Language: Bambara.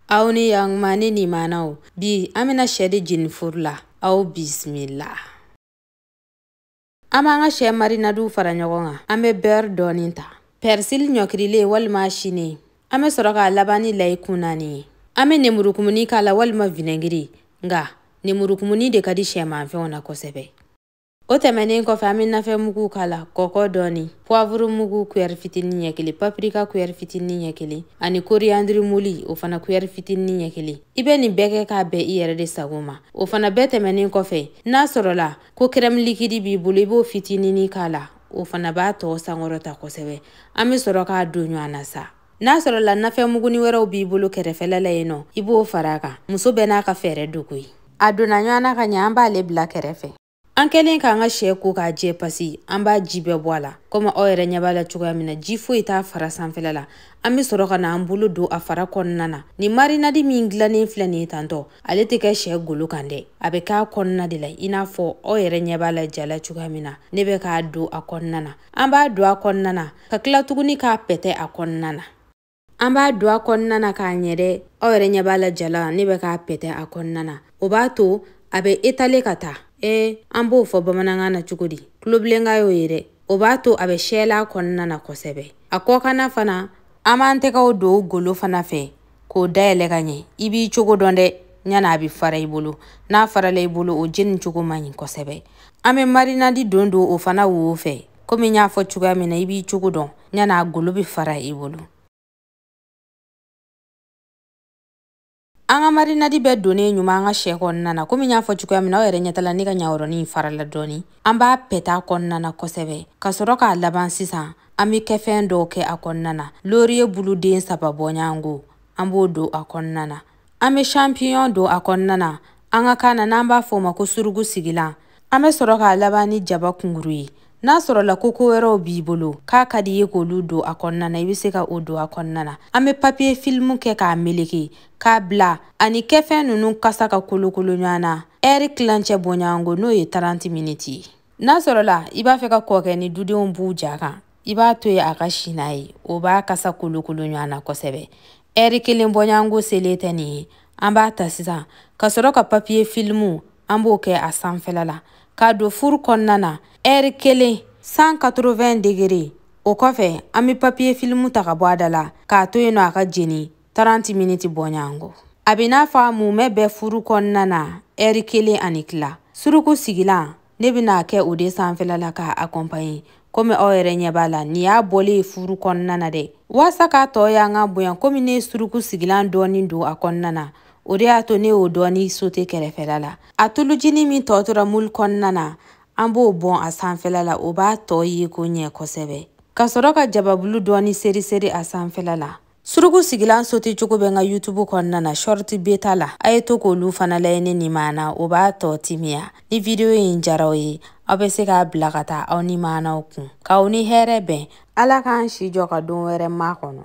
aw ni yanguma ni nimanaw bi an bɛna sɛ de jeni furu la aw bisimila an b'an ka sɛ marinadiw fara ɲɔgɔn kan an bɛ bɛri dɔɔnin ta pɛrisili ɲɔkirilen walima silen an bɛ sɔrɔ k'a laban ni layi kun naani ye an bɛ nemurukumuni k'a la walima vinɛgiri nka nemurukumuni de ka di sɛmanfɛnw na kosɛbɛ o tɛmɛnen kɔfɛ an bɛ nafɛn mugu k'a la kɔkɔ dɔɔni puwavuru mugu kuyɛri fitinin ɲɛ kelen papirika kuyɛri fitinin ɲɛ kelen ani koriyandiri moli o fana kuyɛri fitinin ɲɛ kelen i bɛ nin bɛɛ kɛ k'a bɛn i yɛrɛ de sago ma o fana bɛɛ tɛmɛnen kɔfɛ n'a sɔrɔla ko kɛrɛmu likidi b'i bolo i b'o fitinini k'a la o fana b'a tɔɔ sankɔrɔta kosɛbɛ an bɛ sɔrɔ k'a don ɲɔgɔn na sa n'a sɔrɔla nafɛnmuguni wɛrɛw b'i bolo kɛrɛfɛla la yen nɔ i b'o fara a kan muso bɛɛ n'a ka fɛɛrɛ don koyi a donna ɲɔgɔn na ka ɲɛ an b'ale bila kɛrɛfɛ an kɛlen k'an ka sɛ ko k'a jɛ pasi an b'a ji bɛɛ bɔ a la komi aw yɛrɛ ɲɛ b'a la cogoya min na ji foyi t'a fara sanfɛla la an be sɔrɔ ka na an bolo don a fara kɔnɔna na ni marinadi min dilannen filɛ nin ye tantɔ ale tɛ kɛ sɛ golo kan dɛ a be k'a kɔnɔna de la i n'a fɔ aw yɛrɛ ɲɛ b'a la ja la cogoya min na ne bɛ k'a don a kɔnɔna na an b'a don a kɔnɔna na ka tila tuguni k'a pɛtɛ a kɔnɔna na an b'a don a kɔnɔna na ka ɲɛ dɛ aw yɛrɛ ɲɛ b'a la ja la ne bɛ k'a pɛtɛ a kɔnɔna na o b'a to a bɛ etale ka taa ee an b'o fɔ bamanankan na cogo di tulobilenkan y'o ye dɛ o b'a to a bɛ sɛɛla kɔnɔna na kosɛbɛ a kɔkanna fana an b'an tɛgɛw don golo fana fɛ k'o dayɛlɛ ka ɲɛ i b'i cogo dɔn dɛ ɲana a bɛ fara i bolo n'a farala i bolo o jeni cogo man ɲi kosɛbɛ an bɛ marinadi dɔ don o fana wo fɛ komi n y'a fɔ cogoya min na i b'i cogo dɔn ɲana a golo bɛ fara i bolo an ka marinadi bɛɛ donnen ɲuman an ka sɛ kɔnɔna na komi n y'a fɔ cogoya min na aw yɛrɛ ɲɛ t'a la ne ka ɲawɔrɔnin farala dɔɔni an b'a pɛt'a kɔnɔna na kosɛbɛ ka sɔrɔ k'a laban sisan an bɛ kɛfɛn dɔw kɛ a kɔnɔna na loriye buluden saba bɔɲɔgɔnko an b'o don a kɔnɔna na an bɛ champignon don a kɔnɔna na an ka kan na n'an b'a fɔ o ma ko surugu sigilan an bɛ sɔrɔ k'a laban ni jaba kunguru ye n'a sɔrɔla ko ko wɛrɛw b'i bolo k'a ka di i ye k'olu don a kɔnɔna na i bɛ se ka o don a kɔnɔna na an bɛ papiye filimu kɛ k'a meleke k'a bila ani kɛfɛn ninnu kasa ka kolokolo ɲɔgɔn na ɛri tilancɛ bɔɲɔgɔnko n'o ye 30 miniti ye n'a sɔrɔla i b'a fɛ ka kɔɔ kɛ ni dudenw b'u ja kan i b'a to yen a ka si n'a ye o b'a kasa kolokolo ɲɔgɔn na kosɛbɛ ɛri kelen bɔɲɔgɔnko selen tɛ nin ye an b'a ta sisan ka sɔrɔ ka papiye filimu an b'o kɛ a sanfɛla la k'a don furu kɔnɔna na ɛri kelen 180 degere o kɔfɛ an be papiye filimu ta ka bɔ a da la k'a to yen nɔ a ka jeni 30 miniti bɔɲango a bɛ n'a fɔ a mumɛ bɛ furu kɔnɔna na ɛri kelen ani tila suruku sigilan ne bɛna a kɛ o de sanfɛla la k'a akɔnpaɲe komi aw yɛrɛ ɲɛ b'a la nin y'a bɔlen ye furu kɔnɔna na dɛ waasa k'a tɔ yanga bonya komi ne suruku sigilan dɔɔni don a kɔnɔna na o de y'a to ne y'o dɔɔni sote kɛrɛfɛla la a tulujini min tɔ tora mulu kɔnɔna na an b'o bɔn a sanfɛla la o b'a tɔ yeko ɲɛ kosɛbɛ ka sɔrɔ ka jababulu dɔɔni seriseri a sanfɛla la suruku sigilan sote cogo bɛ n ka youtube kɔnɔna na shorti beta la a ye to k'olu fana lajɛ ne ni maana o b'a tɔ timiya ni video in diyar'aw ye aw bɛ se k'a bila ka taa aw ni maanaw kun k'aw ni hɛrɛ bɛn ala k'an si jɔ ka don wɛrɛ makɔnɔ